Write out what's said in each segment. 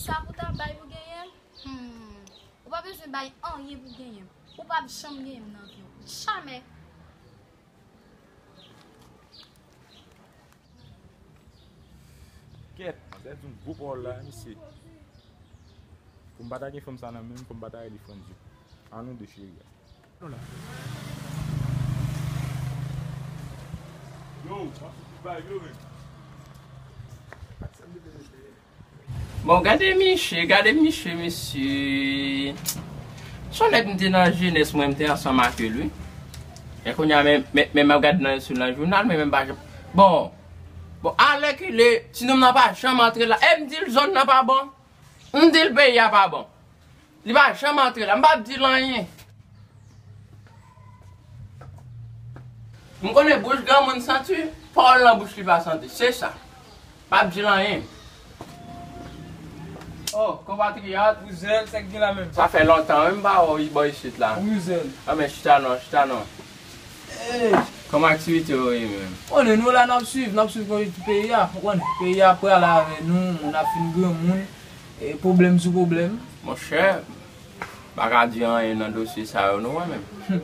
Sa pou ta bay pou genyen m? Humm. Ou pa bezwen bay anyen pou genyen m. Ou p ap janm genyen m nan vi w. Jamè! Kèt! M pèdi yon gwo pawòl la, mesye. Pou m pa ta gen fanm sa nan menm, pou m pa ta rele Frantz yo. An nou de cheri a. Bon gade miche, gade miche mesye. Son nèg m te nan jenès mwen m te ansanm ak l wi. E kounya men map gad nan sou nan jounal men men pa janm. Bon, bon alèkile ti nonm nan pa janm antre la. E m di l zòn nan pa bon. M di l peyi a pa bon. Li pa janm antre la. M pap di l anyen. M konnen bouch granmoun santi, pawòl nan bouch li pa santi. Se sa. M pap di l anyen. Oh, konpatriyat, ou zen, sa k gen la menm? Sa fè lontan wi m pa wè w bò isit la. Wi, zen. A men chita non, chita non. Hey! Kòman aktivite yo ye menm? Ou konnen, nou la n ap suiv, n ap suiv konjikti peyi a. Ou konnen, peyi a ap prale avè nou, moun ap fin granmoun. E pwoblèm sou pwoblèm. Monchè, m pa ka di anyen nan dosye sa yo nou wè menm.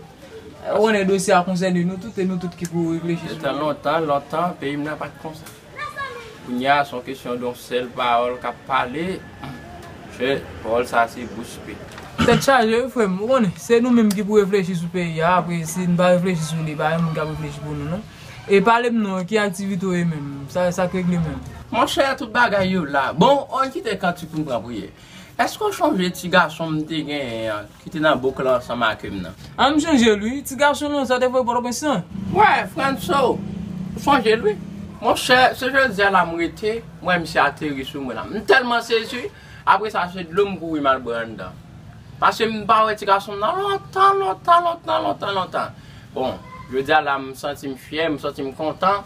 Ou konnen dosye a konsène nou tout, e nou tout ki pou reflechi sou li. Detan lontan, lontan, peyi m nan pa t konsa. Kounye a, s on kesyon de yon sèl pawòl k ap pale, monchè, pawòl sa a se bouspik. Tèt chaje wi frè m, ou konnen, se nou menm ki pou reflechi sou peyi a, apre si n pa reflechi sou li, pa gen moun k ap reflechi pou nou non. E palem non ki aktivite ou ye menm? Sak regle menm? Monchè tout bagay yo la. Bon oy kite kantik poum pran priyè. Eske ou chonje ti gason m te genyen an ki te nan bouk lan ansanm ake m nan? An m chonje l wi. Ti gason lan sa te voye pòtoprens lan? Wè Frantso ou chonje l wi. Monchè se jodi a la m rete m wè misye ateri sou mwen la. M tèlman sezi. Apre sa se dlo m kouri m al bwè anndan. Paske m pa wè ti gason m nan lontan lontan lontan lontan lontan. Bon, jodi a la m santi m fyè, m santi m kontan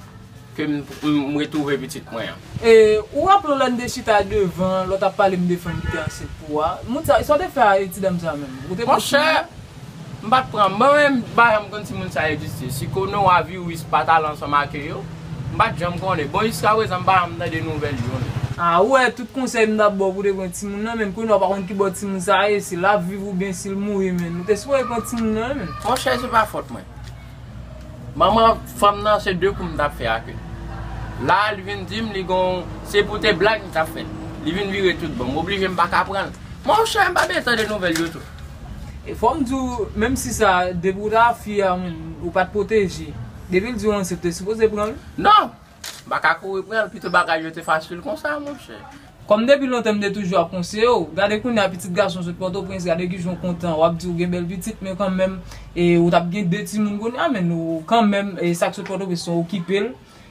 ke m retwouve pitit mwen an. E ou raple w lè n te chita devan lè w t ap pale m de fanm ki te ansent pou ou a? Moun sa, sa w te fè a ti dam sa menm? Ou te kontinye? Monchè, M pat pran, mwen menm m pa janm konn si moun sa egziste, si Kono a Viwis pat al ansanm ake yo, m pat janm konnen, bon jiska prezan m pa janm tande nouvèl youn. Ah ou wè tout konsèy m tap baw pou te pran timoun nan menn kounya ou pa konn kibò timoun sa ye si lap viv ou byen sil mouri menn ou te sipoze pran timoun nan wi menn. Monchè se pa fòt mwen. Manman fanm nan se de kou m tap fè ak li. La a li vin dim li gon se pou te blag m tap fè li vin vire tout bon m oblije m paka pranl. Monchè m pa byen tande nouvèl yo tou. E fòm diw menm si sa depi ou ta fi a ou pat pwoteje depil diw ansent ou te sipoze pranl. Non! M pa ka kouri pranl pito bagay yo te fasil konsa monchè. Kòm depi lontan m te toujou ap konseye w, gade kounya pitit gason sot pòtoprens gade kijan w kontan wap di ou gen bèl pitit men kanmenm ou tap gen 2 timoun kounya men nou kanmenm sak sot pòtoprens nou okipe l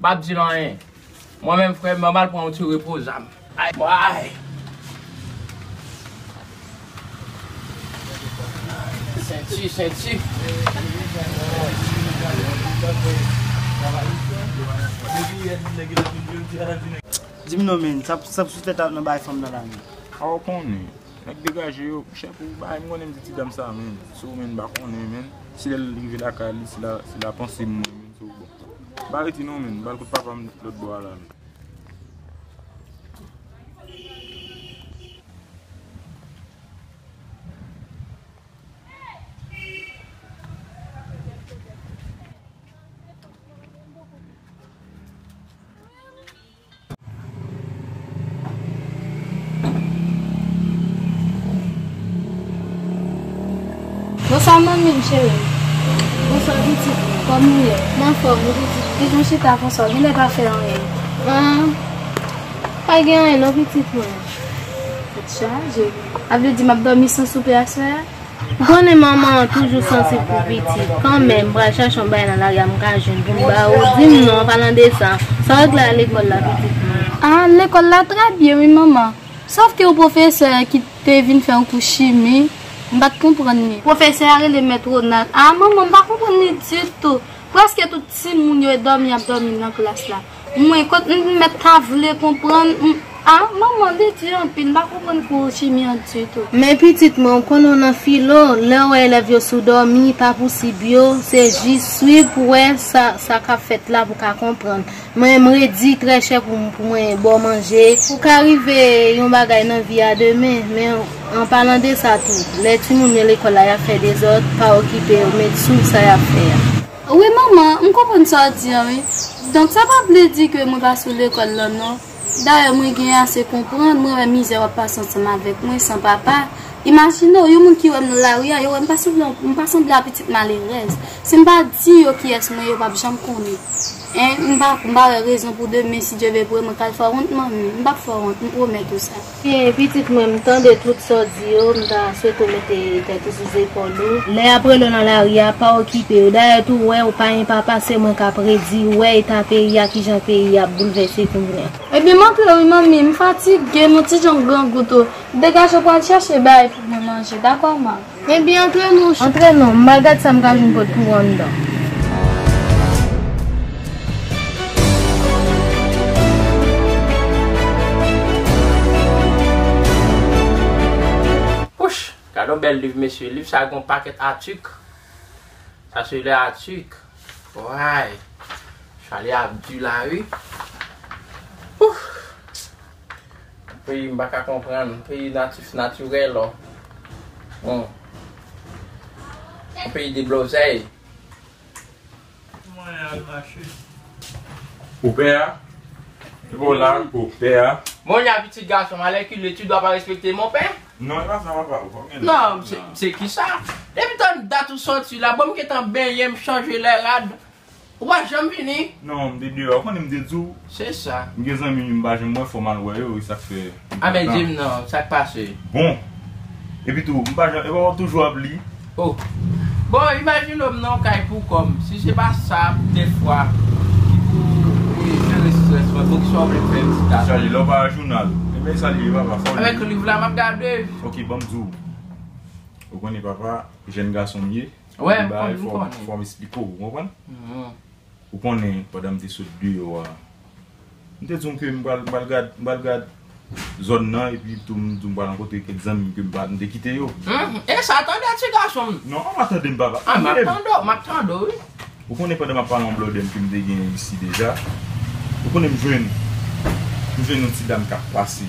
Map dil anyen Mwen menm frem mwen mal pran yon ti repo zam. Ay mwayy. Senti senti. Dim non menn, sa pou sou tèt a nan bay fanm nan la menn? Aw konnen, nèg degaje yo, chè pou bay, m konnen m di ti dam sa menn, sou menn m pa konnen menn, si lèl rive lakay li, se la panse m mwen menn. Pa reti non menn, bal kout papa m lòt bò a la. Bonswa manmi m cherim. Bonswa pitit mwen. Kòman ou ye? M anfòm, ou pitit m? Pitit m chita konsa, ou genlè pa fè anyen. An? Pa gen anyen non pitit mwen. Tèt chaje. Sa vle di m ap dòmi san soupe aswè a? M konnen manman an toujou sansib pou pitit, kanmenm m pral chache yon bagay nan lari a m ka jwenn pou m ba ou, di m non an palan de sa, sa w regle a lekòl la pitit mwen? A, lekòl la trè byen wi manman, sof ke yon pwofesè ki te vin fè yon kou chimi, m pa t konprann li. Pwofesè a rele mèt Ronald. A, manman m pa konprann li ditou, prèske tout timoun yo e dòmi y ap dòmi nan klas la. Mwen kot m met ta vle konprann m ah manman li di anpil m pa konprann kou chimi an ditou. Men pitit mwen ou konnen w nan filo, lè ou wè elèv yo sou dòmi, pa pou sib yo, se jis swiv pou wè sa sa kap fèt la pou ka konprann. Mwen m redi trè chè pou pou mwen ba w manje. Ou ka rive yon bagay nan vi a demen, men an palan de sa tou, lè timoun yo lekòl la yap fè dezòd, pa okipe yo, met swiv sa yap fè a. Wi manman, m konprann sa w di an wi. Donk sa pa vle di ke mwen pa sou lekòl lan non. Dayè mwen gen ase konprann, mwen wè mizè w ap pase ansanm avèk mwen, san papa. Imajine w, yon moun ki wè m nan lari a, yo wè m pa sanble yon, m pa sanble yon pitit malerèz. Si m pa di yo kiyès mwen ye, yo pap janm konnen. Hein, m pa, m pa wè rezon pou demen, si Dye vle pou mwen ka al fè wont manmi. M pap fè wont, m pwomèt ou sa. Hey pitit mwen m tande tout sa w di yo m ta swete w mete tèt ou sou zepòl ou. Lè yap rele w nan lari a pa okipe yo dayè tou wè ou pa enpa pa se mwen kap redi ou wè eta peyi a kijan peyi a ap boulvèse kounya. Ebyen m aple wi manmi m fatige nou ti jan grangou tou degaje pral chèche bay pou mwen manje dakò man. Enbyen antre non cheri. Antre non, m'al gad sa m'ka jwenn pot pou ou anndan. Wouch! Gadon bèl liv mesye. Liv sa gon pakèt atik. Sa se lè atik. Woy! Chwal yo ap di la wi. Wouch! Peyi m pa ka konprann, peyi natif natirèl o. Yon peyi deblozèy. Mwen al mache. Pou pè a. Epa w la pou pè a. Bon jan pitit gason m alèkile tu dwa pa respekte mon pè? Non epa sa papa ou pa gen dwa. Non se kisa? Depi tann dat ou soti la bon m gentan benyen m chanje lè rad Ou pa janm vini? Non, m te deyò. Ou konnen m te di w. Se sa. M gen zanmi m pa janm wè fò m al wè yo e sa k fè. A men di m non, sa k pase? Bon! Epi tou, m pa janm, e pa w ap toujou ap li? O! Bon, imajine w m nan yon kay pou kò m. Si se pa sa, dè fwa, ki pou jere strès mwen. Bon, ki sa w vle m fè m ti gason? Sa l ye? Lè w pa a jounal? E men sa l ye papa, sa w vle? Avèk liv la m ap gade. Ok, ban m di w. Ou konnen papa, jèn gason m ye. Wè, m konnen, m konnen. Fòm esplike w, ou konprann? Ou konnen, pandan m te sot deyò a, m te di w ke m pral gad, m pral gad zòn nan, epi tou m di w m pral rankontre kèk zanmi m ke m pa, m te kite yo. E sa, tande ti gason m! Non, an m a tande m papa. An m ap tande w, m ap tande w wi. Ou konnen pandan m ap pale yon blòdè m ke m te genyen isi deja, ou konnen m jwenn, m jwenn yon ti dam k ap pase.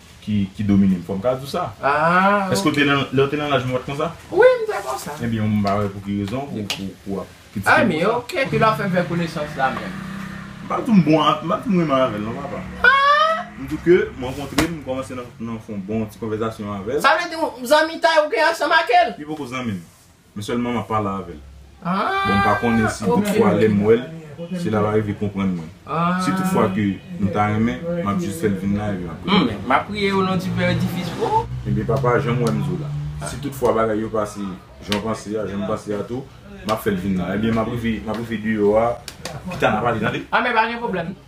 ki domine m fò m ka di w sa èske ou te nan lè ou te nan laj mwen ou pat konsa wi m te konsa ebyen m pa wè pou ki rezon ou ap kritike m konsa ok ki lè w fè vè konesans la menm m pa di w m bon m pa di w m renmen avè l non papa m di w ke m rankontre l m kòmanse nan fè yon bon ti konvèzasyon avè l sa vle di w zanmitay ou gen ansanm ak l li poko zanmi m. Mwen sèlman map pale avèl. Bon mpa konnen si tout fwa lèm wèl si lap arive konprann mwen. Si tout fwa ke nou ta renmen map jis fèl vin la epi map priye pou li. Map priye o non di pè edifis bro. Ebyen papa janm wèm di w la. Si tout fwa bagay yo pase janw panse a janm panse a tou map fèl vin la. Ebyen map rive deyò a pita nap pale tande. Amè pa gen pwoblèm.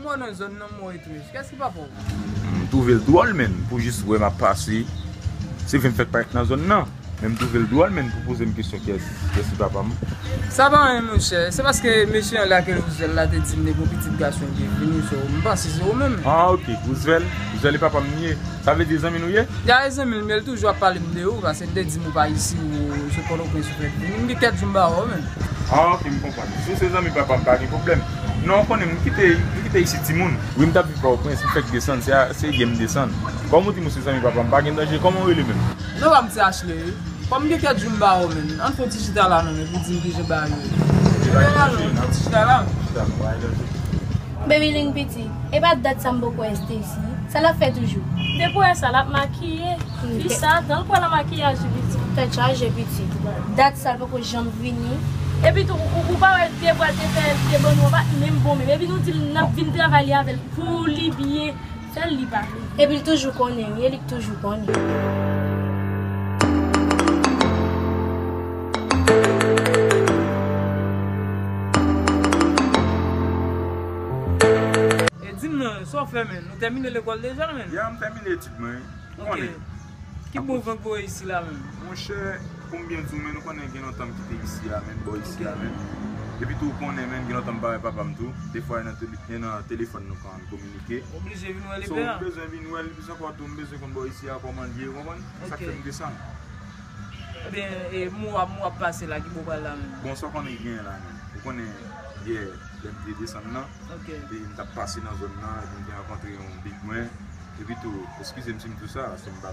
M twouve l dwòl menn pou jis wè m ap pase. Se vre m fèk parèt nan zòn nan, men m twouve l dwòl menn pou poze m kesyon kyès ki papa m. Sa pa anyen monchè, se paske mesye an lage Rouzvèl la te di m depi yon pitit gason m te vini sou ou. M panse se ou menm. Ah ok, Rouzvèl? Rouzvèl e papa m li ye? Sa vle di zanmi nou ye? Gade zanmi l men l toujou ap pale m de ou pase m te di m ou pa isi ou se pòtoprens ou fèt vini m gen kèk jou m pa wè w menm. Ah ok m konprann. Si w se zanmi papa m pa gen pwoblèm. Non ou konnen m kite isit timoun. Wi m t ap viv pòtoprens m fèk desann se asyè m desann. Kòm ou di m ou se zanmi papa m pa gen danje kòman w rele menm? Non pa m se Achley wi. Kòm m gen kèk jou m pa wè w menm ann fè yon ti chita la non men pou w di m kijan bagay yo ye. Chita la non ti chita la. Chita la non pa gen danje. Baby ling piti. Epa dat sa m poko wè Stesy. Sa lap fè toujou. Depi w wè sa lap makiye. Fi sa tanl pran nan makiyaj li piti. Tèt chaje piti. Dat sa l poko janm vini. Epi tou ou pa wè te pral te fè te bannou anba menm bon menm epi nou dil nap vin travay li avèl pou li byen. Fè l li pa vle di. Epi l toujou konnen wi e li k toujou konnen. E di m non, sa w fè menm? Ou tèmine lekòl deja menm? Ya m tèmine etid mwen wi. Ou konnen. Ki bon vant voye isi la menm? Monchè, pou m byen di w menm, ou konnen gen lontan m kite isi a menm, bò isi a menm. Epi tou ou konnen menm gen lontan m pa wè papa m tou. Defwa e nan telefòn nou konn kominike. Ok. Ou blije vin wè li pè an. So, m bezwen vin wè li plis ankò tou. M bezwen konn bò isi a kòman l ye, ou konprann? Ok. Sa k fè m desann. Ebyen, e m ou ap pase la, ki bò ou pral la menm? Bon, sa w konnen ki genyen la menm. Ou konnen, yè, lè m te desann nan. Ok. Epi m t ap pase nan zòn nan, epi m te rankontre yon big mwen. Epitou, eskize m si m di w sa, se m pa.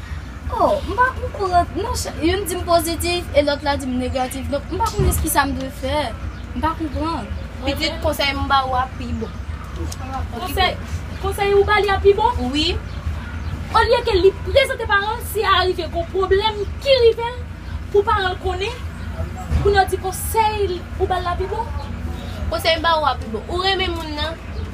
Oh, m pa okouran. Non chè, youn di m pozitif e lòt la di m negatif. Donk m pa konnen s ki sa m dwe fè. M pa konprann. Pitit, konsèy m ba ou a pi bon. Konsèy, konsèy ou ba li a pi bon? Wi. Olye ke li prezante paran l, si arive gon pwoblèm ki rive l, pou paran l konnen, kounye a w di konsèy ou ba l la pi bon? Konsèy m ba ou a pi bon. Ou renmen moun nan.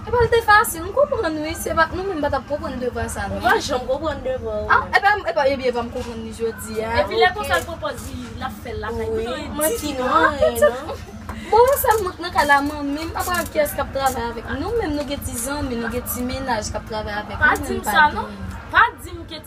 Epa l te fasil, m konprann wi, se pa, nou menm pa tap konprann devwa sa non. Ou pa janm konprann devwa ou non. Epa m, epa, ebyen epa m konprann li jodi a. Epi lè konsa l pran pòz li lap fèl lakay m san l di li non. An tout sa, bon wè sa mwen k nan kay la manmi m, apa kiyès kap travay avèk m, nou menm nou gen ti zanmi, nou gen ti menaj kap travay avèk nou, nou menm pa gen. Pa di m sa non, pa di m ke.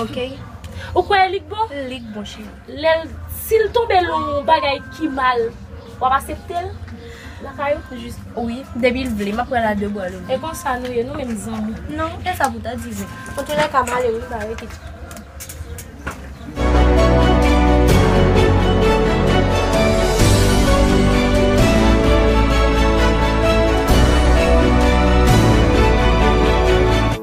Ok Ou kwè li k bon? Li k bon cheri. Lè l, si l tonbe l yon bagay ki mal, w ap asepte l lakay ou? Jis, wi. Depi l vle, m ap pran l a 2 bra louvri. E konsa nou ye, nou menm zanmi? Non, e sa pou w ta di vre. Antoulèka, m ale wi, m pa rete.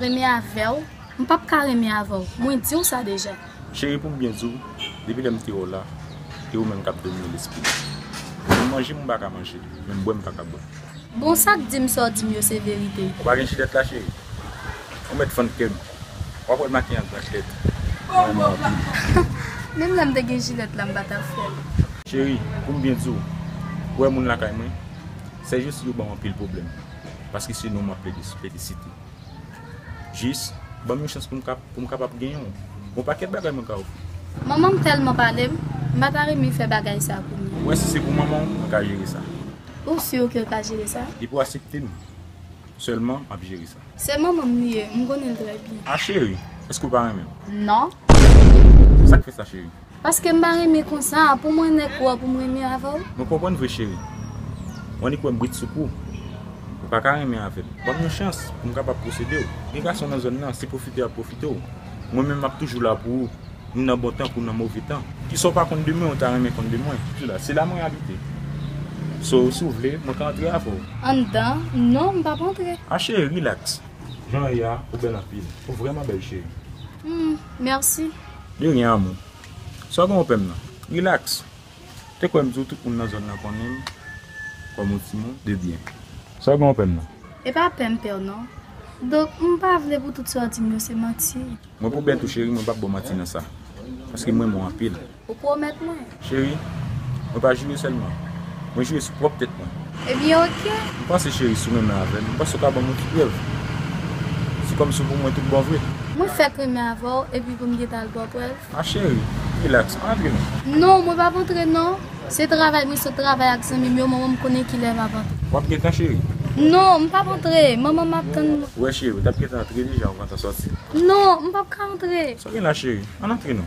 Renmen avèw m pap ka renmen avèw mwen diw sa deja. Cheri poum byen diw depi lèm te wèw la e ou menm kap domine lesprim menm manje mwen paka manje menm bwè m paka bwè. Bon sak dim sa w dim yo se verite. Ou pa gen jilèt la cheri? Ou mèt fann kèm wap wèl makiye an grande lèt mwen renmen w anpil. Menm lèm te gen jilèt la m patap fèl. Cheri poum byen diw ou wè moun lakay mwen sèjous yo banm anpil pwoblèm. Paske se nou map felisite. Jis banm yon chans poum kapab gen yon bon pakèt bagay mwen ka ofri. Manmanm tèlman palem, m pa ta renmen fè bagay sa pou li. Ou wè si se pou manmanw mwen ka jere sa. Ou sur ke l ka jere sa? Depi w asepte m sèlman map jere sa. Se manmanm li ye, m konnen l trè byen. Ah chérie, eske w pa renmen m? Non. Sak fè sa chérie? Paske m pa renmen konsa. Pou mwen nèk ou a pou m renmen avè w. Mwen konprann vre cheri. M annik wè m brit sou kou. Ou pa ka renmen avè m. Ban m yon chans pou m kapab posede w. Gen gason nan zòn nan se pwofite y ap pwofite w. Mwen menm m ap toujou la pou ou. Ni nan bon tan kou nan move tan. Kisa w pa konn de mwen ou ta renmen konn de mwen? Se la mwen abite. So si w vle mwen ka antre avè w. Anndan? Non m p ap antre. A cheri rilaks. Jan w ye a ou bèl anpil. Ou vrèman bèl cheri. Humm merci. De rien amour. Sa w gen openm nan? Relax. Te kwè m di w tout moun nan zòn nan konnen m kòm yon timoun de byen. Sa w gen openm nan? E pa pèm pè w non. Donk m pa vle pou tout sa w di m yo se manti. Mwen pou bèt ou cheri mwen pap ba w manti nan sa. Paske m renmen w anpil. Ou pwomèt mwen? Cheri, mwen pa joure sèlman. Mwen joure sou pwòp tèt mwen. Ebyen oke. M panse cheri si w renmen avè m, m panse w ka ban m yon ti prèv. Se kòmsi w pou mwen tout bon vre. Mwen fèk renmen avè w epi pou m gentan al ba w prèv? A cheri, rilaks, pa antre non. Non, mwen p ap antre non. Se travay, mwen sot travay ak zanmi m yo, manman m konnen kilè m ap antre. W ap gentan cheri? Non, m p ap antre. Manman m ap tann mwen. Ou wè cheri, ou t ap gentan antre deja ou gentan sòti. Non, m p ap ka antre. Sa w gen la cheri? Ann antre non.